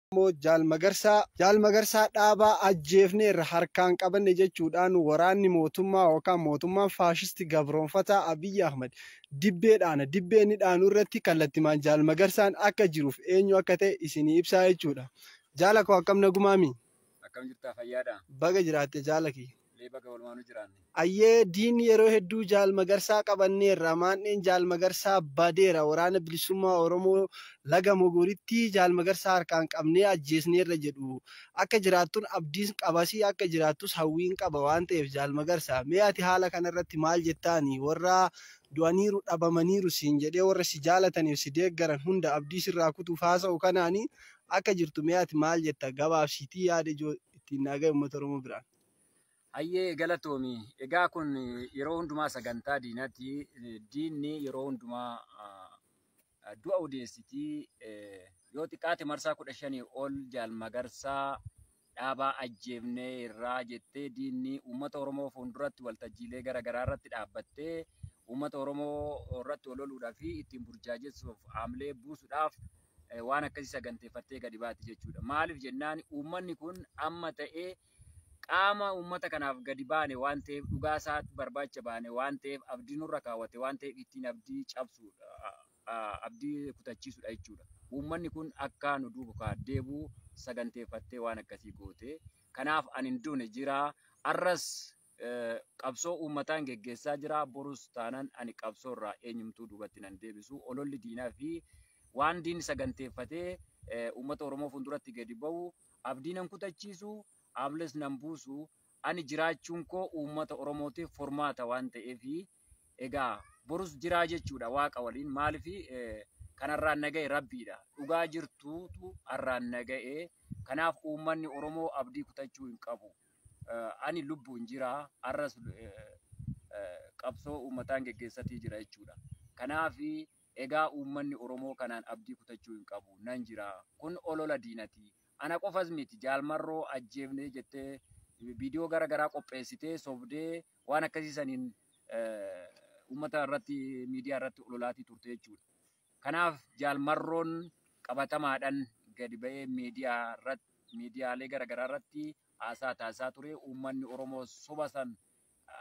Oromoo Jaal Magarsaa, Jaal Magarsaa Dhaabaa ajjeefneerra harkaan qabanne jechuudhaan waraanni mootummaa yookaan mootummaan faashisti gabroomfataa Abiy Ahmed dibbee dhaana. Dibbee inni dhaanu irratti kallattimaan Jaal Magarsaan akka jiruuf eenyu akka ta'e isinii ibsaa jechuudha. Jaala koo akkam nagumaamii? Akkam jirtaa fayyaadhaa? Baga jiraatte jaala kiyya. Lee baga walumaanu jiraanne. Ayyee diinni yeroo hedduu Jaal Magarsaa qabanneerra, maandheen Jaal Magarsaa badeera, Waraana Bilisummaa Oromoo Laga Mogoritti Jaal Magarsaa harkaan qabnee ajjeesneerra jedhu. Akka jiraattun abdiin qabas akka jiraattus hawwiin qaba waan ta'eef Jaal Magarsaa, mee ati haala kanarratti maal jettaani? Warra du'aniiru, dhabamaniiru siin jedhee warra si jaalataniif si deeggaran hunda abdii sirraa kutuuf haasa'u kanaani akka jirtu mee ati maal jetta? Gabaabsiitii yaada ijoo ittiin naa ga'i uummata Oromoo biraan. Hayyee galatoomi. Egaa kun yeroo hundumaa sagantaa diinaati. Diinni yeroo hundumaa ah, du'a odeessiti. Eh, Yoo xiqqaate marsaa kudha shanii ol jaal magarsaa dhaabaa ajjeefnee irraa jettee diinni uummata Oromoo fuulduratti waltajjiilee gara garaa irratti dhaabbattee uummata Oromoo irratti ololuudhaa fi ittiin burjaajessuuf haamilee buusuudhaaf waan akkasii saganteeffattee gadi baati jechuudha. Maaliif jennaan uummanni kun amma ta'ee qaama uummata kanaaf gadi baane waan ta'eef dhugaa isaa barbaacha baane waan ta'eef abdii nurra kaawwate waan ta'eef ittiin abdii cabsuudha abdii kutachiisuudha jechuudha. Uummanni kun akka nu duuka deebi'u saganteeffattee waan akkasii goote. Kanaaf ani hin duune jira. Arras Qabsoo uummataan geggeessaa jira, borus taanan ani qabsoo irraa eenyumtuu duubatti nan deebisu. Ololli diinaa fi waan diinni saganteeffatee uummata Oromoo fuulduratti gadi bahu abdii nan kutachiisu, aablees nan buusu. Ani jiraachuun koo uummata Oromootiif furmaata waan ta'eef Egaa borus jiraa jechuudha waaqa waliin maaliif kan har'aan naga'e rabbiidha dhugaa jirtuutu har'aan naga'e kanaaf uummanni oromoo abdii kutachuu hin qabu ani lubbuun jira har'as qabsoo uummataan geggeessatii jira jechuudha kanaaf egaa uummanni oromoo kanaan abdii kutachuu hin qabu nan jira kun olola diinatii ana qofas miti jaalmarroo ajjeefnee jettee viidiyoo gara garaa qopheessitee sobdee waan akkasii saniin uummata irratti miidiyaa irratti ololaatii turte jechuudha. Kanaaf jaalmarroon qabatamaadhaan gadi ba'ee miidiyaa irratti miidiyaalee garaagaraa irratti haasaa taasisaa ture. Uummanni Oromoo soba san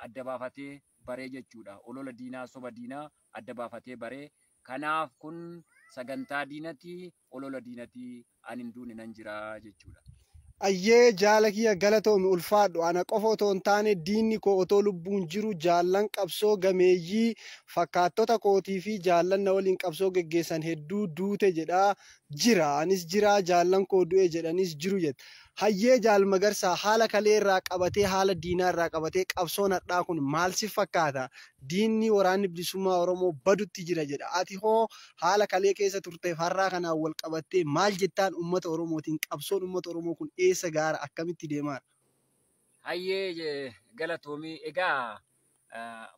adda baafatee baree jechuudha. Olola diinaa soba diinaa adda baafatee baree. Kanaaf kun sagantaa diinati olola diinati an hin duune nan jira jechuudha. Ayyee jaala kiyya galatoomi ulfaadhu ana qofa otoo hin taane diinni koo otoo lubbuun jiru jaallan qabsoo gameeyyii fakkaattota kootii fi jaallan na waliin qabsoo geggeessan hedduu duute jedhaa jira anis jiraa jaallan koo du'e jedhaniis jiru jette Hayyee Jaal Magarsaa, haala kalee irraa qabatee, haala diinaa irraa qabatee qabsoon hardhaa kun maal si fakkaata? Diinni Waraanni Bilisummaa Oromoo badutti jira jedha. Ati hoo haala kalee keessa turteef har'aa kanaan wal qabattee maal jettaan uummata Oromootiin? Qabsoon uummata Oromoo kun eessa gaara? Akkamitti deemaara? Hayyee galatoomi. Egaa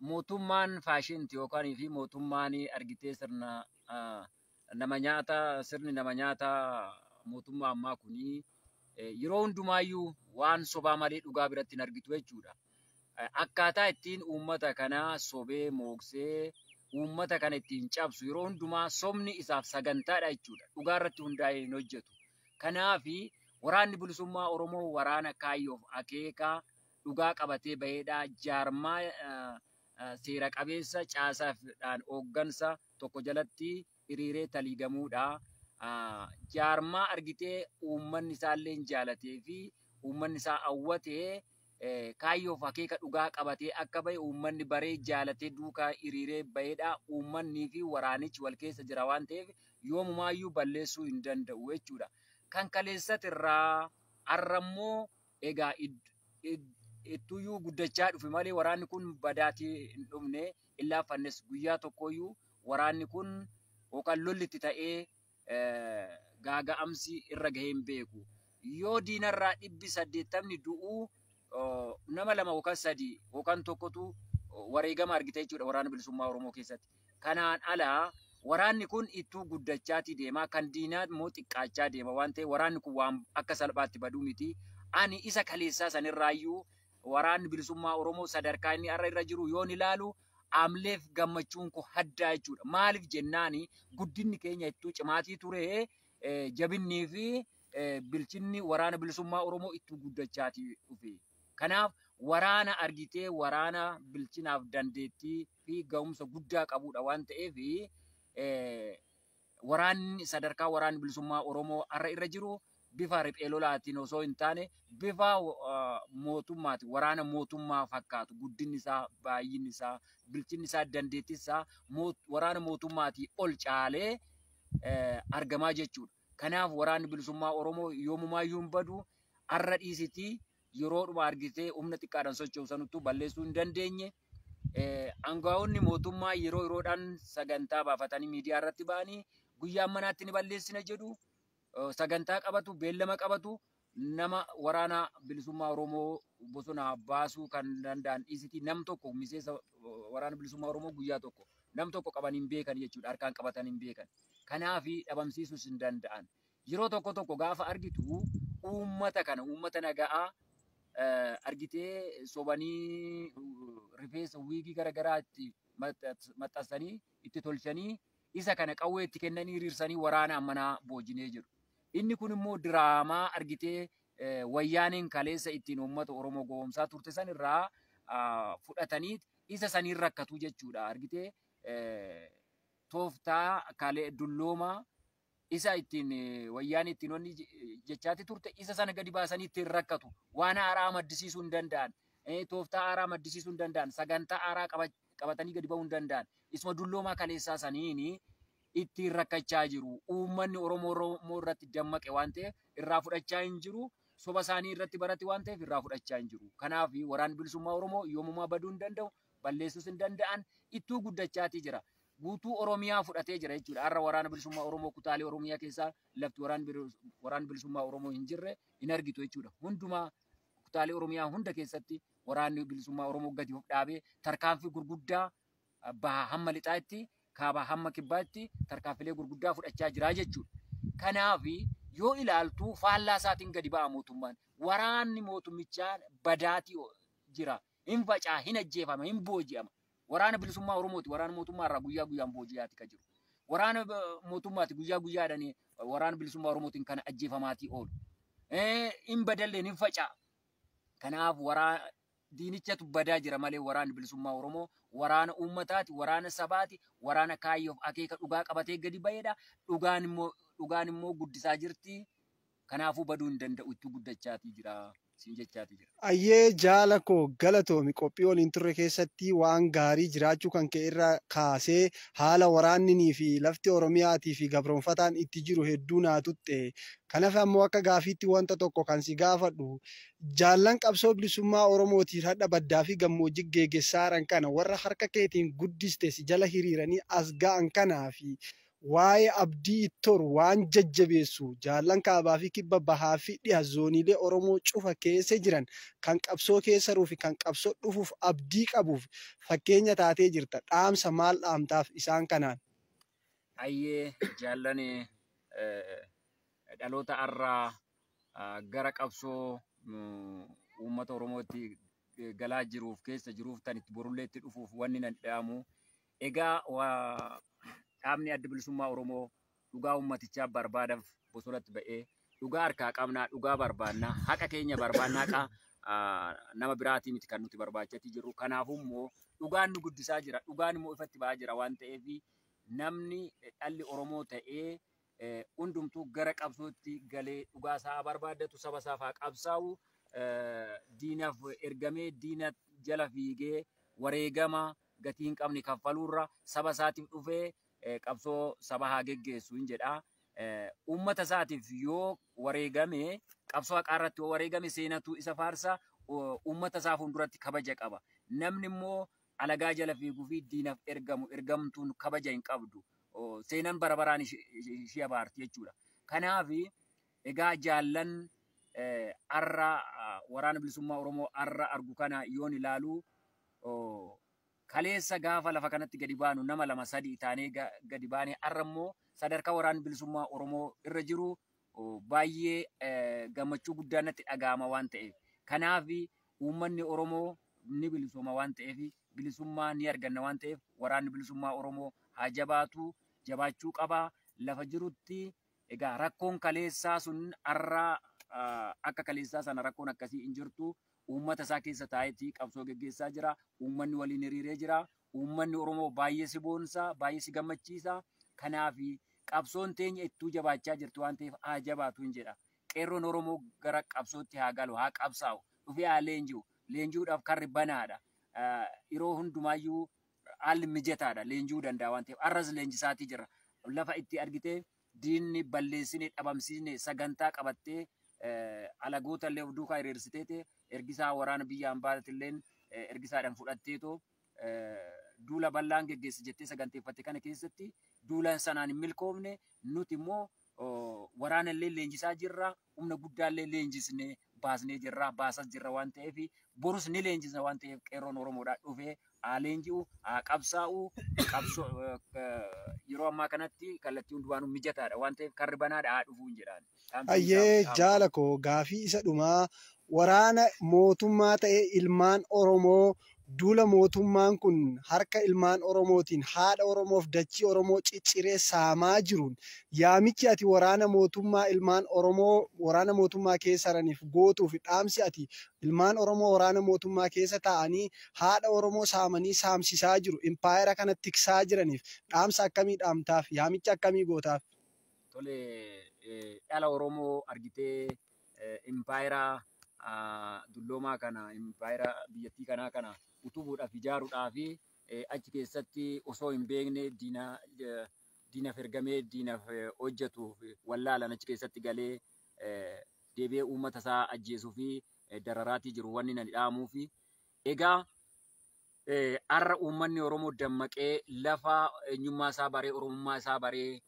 mootummaan faashinti yookaan fi mootummaan argitee sirna nama nyaataa sirni nama nyaataa mootummaa ammaa kuni eh, yeroo hundumaayyuu waan sobaa malee dhugaa biratti hin argitu jechuudha. Eh, Akkaataa ittiin uummata kana sobee mooksee uummata kana ittiin cabsu yeroo hundumaa sobni isaaf sagantaadha jechuudha. Dhugaa irratti hundaa'ee hin hojjetu. Kanaafi waraanni bilisummaa Oromoo waraana kaayyoof akeekaa dhugaa qabatee baheedha. Jaarmaa eh, eh, seera qabeessa caasaafidhaan hooggansa tokko jalatti hiriiree taliigamuudha. Jaarmaa argitee uummanni isaalleen jaalatee fi uummanni isaa hawwatee kaayyoof akeeka dhugaa qabatee akka bahe uummanni baree jaalatee duukaa hiriiree baheedha. Uummannii fi waraanichi wal keessa jira waan ta'eef yoomumaayyuu balleessuu hin danda'u jechuudha. Kan kaleessatirraa har'ammoo Egaa ittuyyuu guddachaa dhufe malee waraanni kun badaatii hin dhumne, hin laaffannes. Guyyaa tokkooyyuu waraanni kun yookaan lolli itti ta'ee gaaga'amsi irra gahee hin beeku. Yoo diinarraa dhibbi saddeettamni du'u nama lama yookaan sadii yookaan tokkotu wareegama argita jechuudha Waraana Bilisummaa Oromoo keessatti. Kanaan ala waraanni kun ittuu guddachaatii deema, kan diinaa immoo xiqqaachaa deema waan ta'eef waraanni kun waan akka salphaatti badu miti. Ani isa kaleessaa sanirraayyuu waraanni bilisummaa Oromoo sadarkaa inni har'a irra jiru yoon ilaalu amleef gammachuun koo haddaa jechuudha. Maaliif jennaan guddinni keenya ittuu cimaatii ture jabinnii fi bilchinni waraana bilisummaa Oromoo ittuu guddachaatii dhufe. Kanaaf waraana argitee waraana bilchinaaf dandeettii fi gahumsa guddaa qabuudha waan ta'eef waraanni sadarkaa waraanni bilisummaa Oromoo har'a irra jiru bifa riphee lolaatiin osoo hin taane bifa mootummaati waraana mootummaa fakkaatu guddinni isaa baay'inni isaa bilchinni isaa dandeettiin isaa waraana mootummaatii ol caalee argamaa jechuudha. Kanaaf waraanni bilisummaa Oromoo yoomumaa iyyuu hin badu har'a dhiisitii yeroodhuma argitee humna xiqqaadhaan socho'u sanuttuu balleessuu hin dandeenye. Angaa'onni mootummaa yeroo yeroodhaan sagantaa baafatanii miidiyaa irratti ba'anii guyyaa manaatti ni balleessina jedhu. Sagantaa qabatu, beellama qabatu. Nama waraana bilisummaa Oromoo bosona baasuu kan danda'an dhiisiti. Nam tokko miseensa waraana bilisummaa Oromoo guyyaa tokko nam tokko qabanii hin beekan jechuudha. Harkaan qabatanii hin beekan. Kanaaf dhabamsiisuus hin danda'an. Yeroo tokko tokko gaafa argitu uummata kana uummata naga'aa argitee sobanii rifeensa wiigii garagaraa itti maxxansanii itti tolchanii isa kana qawwee itti kennanii hiriirsanii waraana ammanaa boojinee jedhu. Inni kun immoo diraamaa argitee wayyaaneen kaleessa ittiin uummata Oromoo gowwoomsaa turte san irraa fudhatanii isa saniin rakkatuu jechuudha. Argitee tooftaa kalee dulloomaa isa ittiin wayyaanee ittiin wanni jechaatti turte isa sana gadi baasanii ittiin rakkatu waan haaraa maddisiisuu hin danda'an tooftaa haaraa maddisiisuu hin danda'an sagantaa haaraa qabatanii gadi ba'uu hin danda'an isuma dulloomaa kaleessaa saniin ittiin rakkachaa jiru uummanni oromoo oromoo irratti dammaqe waan ta'eef irraa fudhachaa hin jiru soba isaanii irratti barate waan ta'eef irraa fudhachaa hin jiru kanaaf waraan bilisummaa oromoo yoomumaa baduu hin danda'u balleessuus hin danda'an ittuu guddachaatii jira. Guutuu Oromiyaa fudhatee jira jechuudha. Har'a waraana bilisummaa Oromoo kutaalee Oromiyaa keessaa lafti waraan bilis- waraan bilisummaa Oromoo hin jirre hin argitu jechuudha. Hundumaa kutaalee Oromiyaa hunda keessatti waraanni bilisummaa Oromoo gadi of dhaabee tarkaanfii gurguddaa ah, bahaa hamma lixaatti kaabaa hamma kibbaatti tarkaanfilee gurguddaa fudhachaa jira jechuudha. Kanaaf yoo ilaaltu faallaa isaatiin gadi ba'a mootummaan. Waraanni mootummichaa badaatii o- jira. hin faca'a, hin ajjeefama, hin booji'ama. Waraana bilisummaa Oromooti. Waraana mootummaa irraa guyyaa guyyaan booji'aati ka jiru. Waraana eh, mootummaati guyyaa guyyaadhaan eh, waraana bilisummaa Oromootiin kan ajjeefamaatii oolu. Eh, Hin badalleen hin faca'a. Kanaaf waraa diinichatu badaa jira malee waraanni bilisummaa Oromoo waraana uummataati, waraana sabaati, waraana kaayyoof akeeka dhugaa qabatee gadi ba'eedha. Dhugaan immoo dhugaan immoo guddisaa jirti. Kanaafuu baduu hin danda'u itti guddachaatii jira siin jechaatii jira. Ayyee jaala koo galatoomi qophii waliin turre keessatti waan gaarii jiraachuu kan kee irra kaasee haala waraanninii fi lafti Oromiyaatii fi gabroomfataan itti jiru hedduu naa tuqxe. Kan hafe ammoo akka gaafiitti wanta tokko kan si gaafadhu jaallan qabsoo bilisummaa Oromootiif hadha baddaa fi gammoojji geegessaaran kana warra harka keetiin guddiste si jala hiriiranii as ga'an kanaa fi Waa'ee Abdii Ittoor waan jajjabeessu, jaallan Kaabaa fi Kibba, Bahaa fi Dhiha zooniilee Oromoo cufa keessa jiran, kan qabsoo keessa ruu fi kan qabsoo dhufuuf abdii qabuuf fakkeenya taatee jirta. Dhaamsa maal dhaamtaaf isaan kanaan? Hayyee jaallan dhaloota har'aa gara qabsoo uummata Oromootti galaa jiruuf, keessa jiruuf, tan itti borullee itti dhufuuf wanni nan dhaamu, Egaa dhaabni Adda Bilisummaa Oromoo dhugaa uummatichaa barbaadaf bosonatti ba'ee dhugaa harkaa qabnaa, dhugaa barbaannaa, haqa keenya barbaannaa haqa nama biraatii miti kan nuti barbaachatii jirru. Kanaafuu immoo dhugaan nu guddisaa jira, dhugaan immoo ifatti ba'aa jira waan ta'eef namni dhalli Oromoo ta'ee hundumtuu gara qabsootti galee dhugaa isaa haa barbaaddatu, saba isaaf haa qabsaa'u, diinaf ergamee diina jala fiigee wareegama gatii hin qabne kaffaluurra saba isaatiif dhufee qabsoo saba haa geggeessu hin jedha. Uummata isaatiif yoo wareegame qabsoo haqaa irratti yoo wareegame seenatu isa faarsa uummata isaa fuulduratti kabaja qaba. Namni immoo alagaa jala fiiguu fi diinaf ergamu ergamtuun kabaja hin qabdu. Seenan bara baraan ishee abaarti jechuudha. Kanaaf egaa jaallan har'a waraana bilisummaa Oromoo har'a argu kana yoon ilaalu Ooh. Kaleessa gaafa lafa kanatti gadi baanu nama lama sadii taanee gadi baane arra immoo sadarkaa waraanni bilisummaa Oromoo irra jiru baay'ee gammachuu guddaan natti dhaga'ama waan ta'eef. Kanaaf uummanni Oromoo ni bilisooma waan ta'eef bilisummaa ni arganna waan ta'eef waraanni bilisummaa Oromoo haa jabaatu jabaachuu qaba lafa jirutti egaa rakkoon kaleessaa sun arra akka kaleessaa sana rakkoon akkasii hin jirtu Uummata isaa keessa taa'eeti qabsoo geggeessaa jira. Uummanni waliin hiriiree jira. Uummanni Oromoo baay'ee si boonsa, baay'ee si gammachiisa. Kanaaf qabsoon teenya ittuu jabaachaa jirti waan ta'eef haa jabaatuun jedha. Qeerroon Oromoo gara qabsootti haa galu, haa qabsaa'u, dhufee haa leenji'u. Leenji'uudhaaf karri banaadha. Yeroo hundumaayyuu haalli mijataadha. Leenji'uu danda'a waan ta'eef. Har'as leenjisaatii jirra. Lafa itti argitee diinni balleessine dhabamsiisne sagantaa qabattee alagoota illee of duukaa hiriirsiteete ergisaa waraana biyya ambaatilleen ergisaadhaan fudhatteetoo duula bal'aan geggeessi jettee saganteeffatte kana keessatti duulaan sanaan hin milkoofne nuti immoo waraana illee leenjisaa jirra humna guddaallee leenjisnee baasnee jirra baasas jirra waan ta'eef borus ni leenjisna waan ta'eef qeerroon Oromoodhaa dhufee haa leenji'u haa qabsaa'u qabsoo yeroo ammaa kanatti kallattii hundumaanuu mijataadha waan ta'eef karri banaadha haa dhufuun jedhaan dhaamsi Hayyee isaa dhaamsa jaala koo gaafii isa dhumaa waraana mootummaa ta'e ilmaan Oromoo Duula mootummaan kun harka ilmaan Oromootiin haadha Oromoof dachii Oromoo cicciree saamaa jiruun yaamichi ati waraana mootummaa ilmaan Oromoo waraana mootummaa keessa raniif gootuu fi dhaamsi ati ilmaan Oromoo waraana mootummaa keessa taa'anii haadha Oromoo saamanii saamsisaa jiru impaayera kana tiksaa jiraniif dhaamsa akkamii dhaamtaaf? Yaamicha akkamii gootaaf? Tole dhala Oromoo argitee impaayera dulloomaa kana, impaayera biyyattii kanaa kana utubuudhaaf, ijaaruudhaaf achi keessatti osoo hin beekne diina diinaf ergamee diinaf hojjetu wallaalan achi keessatti galee deebi'ee uummata isaa ajjeesuu fi dararaatii jiru wanni nani dhaamuufi. Egaa Har'a uummanni Oromoo dammaqee lafa eenyummaa isaa baree Oromummaa isaa baree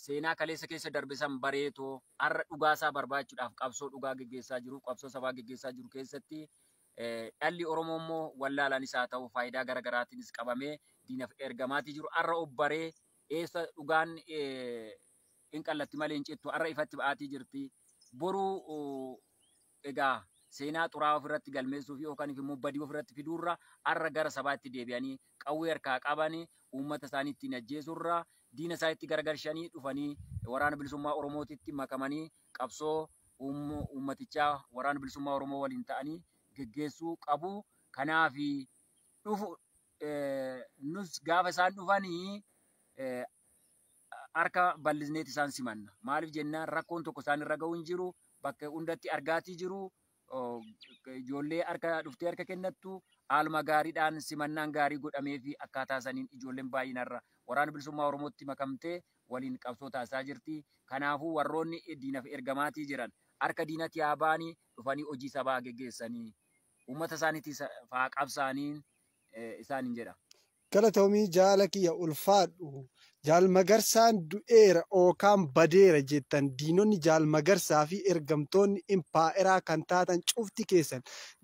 seenaa kaleessa keessa darbe san bareetoo har'a dhugaa isaa barbaachuudhaaf qabsoo dhugaa geggeessaa jiruuf qabsoo sabaa geggeessaa jiru keessatti dhalli Oromoo immoo wallaalaanis haa ta'u faayidaa gara garaatiinis qabamee diinaf ergamaatii jiru har'a of baree eessa dhugaan hin qallatti malee hin cittu har'a ifatti ba'aatii jirti boruu Egaa seenaa xuraa'aa ofirratti galmeessuu fi yookaan immoo badii ofirratti fiduurra har'a gara sabaatti deebi'anii qawwee harkaa qabanii uummata isaanii ittiin ajjeesuurra diina isaanitti garagalchanii dhufanii waraana bilisummaa Oromootitti makamanii qabsoo uummatichaa waraana bilisummaa Oromoo waliin ta'anii geggeessuu qabu. Kanaaf dhufu nus gaafa isaan dhufanii harka bal'isneet isaan simanna. Maaliif jennaan rakkoon tokko isaan irra ga'u hin jiru. Bakka hundatti argaatii jiru. Ijoollee harka dhuftee harka kennattu haaluma gaariidhaan simannaan gaarii godhamee fi akkaataa saniin ijoolleen baay'inarra waraana bilisummaa Oromootti makamtee waliin qabsoo taasisaa jirti. Kanaafuu warroonni diinaf ergamaatii jiran harka diinatti haa ba'anii dhufanii hojii sabaa geggeessanii uummata isaaniitiif haa qabsaa'anii isaaniin jedha. Galatoomii jaala kiyya ulfaadhu. Jaal Magarsaan du'eera ookaan badeera jettan diinonni Jaal Magarsaa fi ergamtoonni impaayeraa kan taatan cufti keessan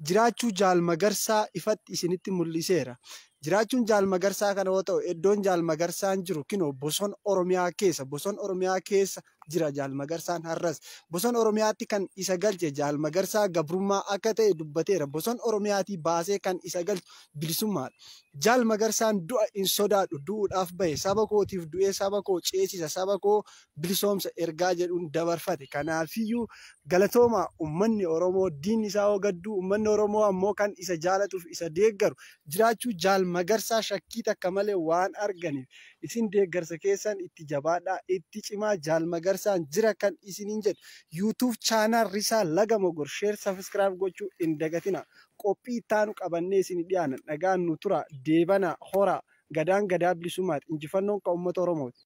jiraachuu Jaal Magarsaa ifatti isinitti mul'iseera. Jiraachuun Jaal Magarsaa kana yoo ta'u eddoon Jaal Magarsaan jiru kinoo bosona Oromiyaa keessa. Bosona Oromiyaa keessa jira Jaal Magarsaan har'as. Bosona Oromiyaatti kan isa galche Jaal Magarsaa gabrummaa akka ta'e dubbateera. Bosona Oromiyaatii baasee kan isa galchu bilisummaadha. Jaal Magarsaan du'a hin sodaadhu, du'uudhaaf bahe, saba kootiif du'ee saba koo ceesisa, saba koo bilisoomsa ergaa jedhuun dabarfate. Kanaafiyyuu galatoomaa ummanni Oromoo diinni isaa hoo gadduu ummanni Oromoo ammoo kan isa jaalatuuf isa deeggaru jiraachuu Jaal Magarsaa shakkii takka malee waan arganiif. Isin deeggarsa keessan itti jabaadhaa itti cimaa jaal magarsaan jira kan isiniin jedhu YouTube channel risaa laga mogor share subscribe gochuu hin dagatinaa qophii itti aanu qabannee isini dhiyaana nagaan nu turaa deebanaa horaa gadaan gadaa bilisummaati injifannoon kan ummata oromooti.